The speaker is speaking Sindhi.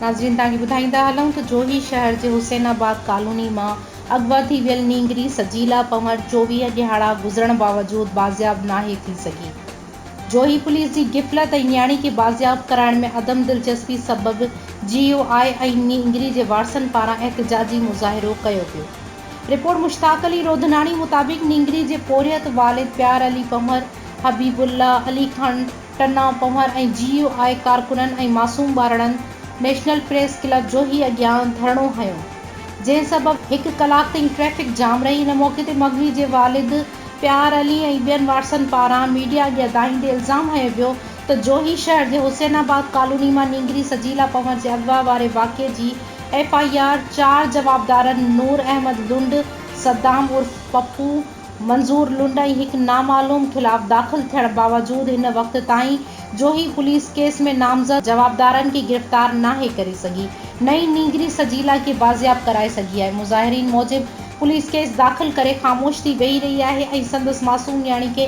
ناظرين توهان کي ٻڌائيندا هلون ته جوهي شهر جي حسين آباد ڪالوني مان اغوا ٿي ويل نينگري سجيلا پنور چوويهه ڏهاڙا گذرڻ باوجود بازياب ناهي ٿي سگهي. جوهي پوليس جي غفلت ۽ نياڻي کي بازياب ڪرائڻ ۾ عدم دلچسپي سبب جي يو آء ۽ نينگري جي وارثن پاران احتجاجي مظاهرو ڪيو ويو. رپورٽ مشتاق علي روڌناڻي مطابق نينگري جي پورهيت والد پيار علي پنهور، حبيب الله، علي خان ٽنا پنهور ۽ جي يو آء ڪارڪنن ۽ معصوم ٻارڙن نيشنل پريس ڪلب جوهي اڳيان ڌرڻو هنيو جنهن سبب هڪ ڪلاڪ تائين ٽريفڪ جام رهي ان موقعي تي مغوي جي والد پيار علي ۽ ٻين وارثن پاران ميڊيا اڳيان دانهيندي الزام هنيو ويو ته جوهي شهر جي حسين آباد ڪالوني مان نينگري سجيلا پنور جي اغوا واري واقعي جي ايف آء آر چار جوابدارن نور احمد لنڊ، صدام عرف پپو، منظور لنڊ ۽ هڪ نامعلوم خلاف داخل ٿيڻ باوجود هن وقت تائين جوهي پوليس ڪيس ۾ نامزد جوابدارن کي گرفتار ناهي ڪري سگهي نه ئي نينگري سجيلا کي بازياب ڪرائي سگهي آهي مظاهرين موجب پوليس ڪيس داخل ڪري خاموش ٿي ويهي رهي آهي ۽ سندس معصوم نياڻي کي